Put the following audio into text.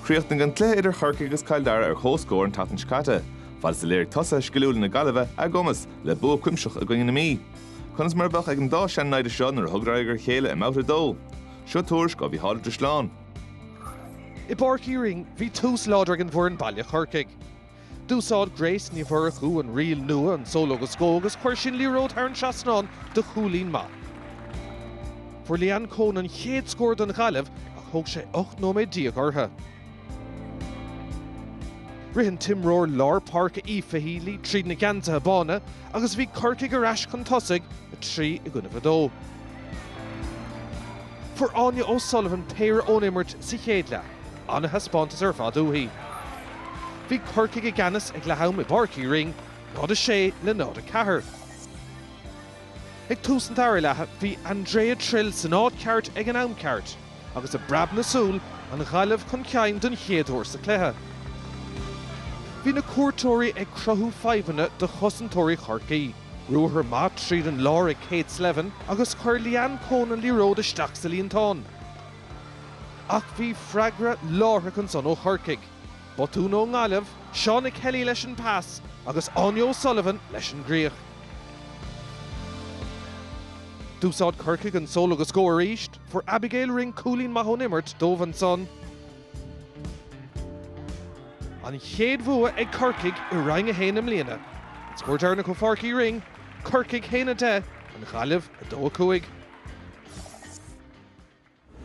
Chríochnaigh an cluiche idir Chorcaigh agus Cill Dara ar comhscór an tseachtain seo caite. Fad is a léirigh tosaithe sciliúla na Gaillimhe a gcumas le bua cuimsitheach i gcoinne na Mí. Conas mar a bheadh ag an dá chontae seo nuair a thugadar aghaidh ar a chéile i mBabhta 2? Seo tuairisc ó Mhicheál Ó Drisleáin. I bPáirc Uí Rinn, bhí tús láidir ag an bhfoireann baile Corcaigh. D'úsáid Grace Ní Mhurchú an riail nua an solo agus go agus chuir sí an liathróid thar an trasnán do chúilín maith. Fuair Leanne Coen an chéad scór don Ghaillimh ach thóg sé 18 nóiméad orthu. Rith an t-imreoir lár páirce Aoife Healy tríd na geansaithe bána agus bhí Corcaigh ar ais chun tosaigh, 3 i gcoinne 2. Fuair Áine O'Sullivan péire ón imirt sa chéad leath. An-thaispeántas ar fad uaithi. Bhí Corcaigh i gceannas ag leath-am i bPáirc Uí Rinn, 0 6 le 0 4. Ag tús an dara leatha bhí Andrea Trill san áit ceart ag an am ceart agus i bpreab na súl an Ghaillimh chun cinn don chéad uair sa cluiche. Bhí na cuairteoirí ag cruthú fadhbanna do chosantóirí Chorcaí. Ruathar maith tríd an lár ag Kate Slevin agus chuir Leanne Coen an liathróid isteach sa líontán. Ach bhí freagra láithreach ansan ó Chorcaigh, botún ón nGaillimh, Shauna Kelly leis an pas agus Áine O'Sullivan leis an gcríoch. D'úsáid Corcaigh an solo agus go arís, fuair Abigail Ring cúilín maith ón imirt dóibh ansan. An chéad bhua ag Corcaigh i Roinn 1 i mbliana. An scór deireanach ó Pháirc Uí Rinn, Corcaigh 1, 10, an Ghaillimh 2, 5.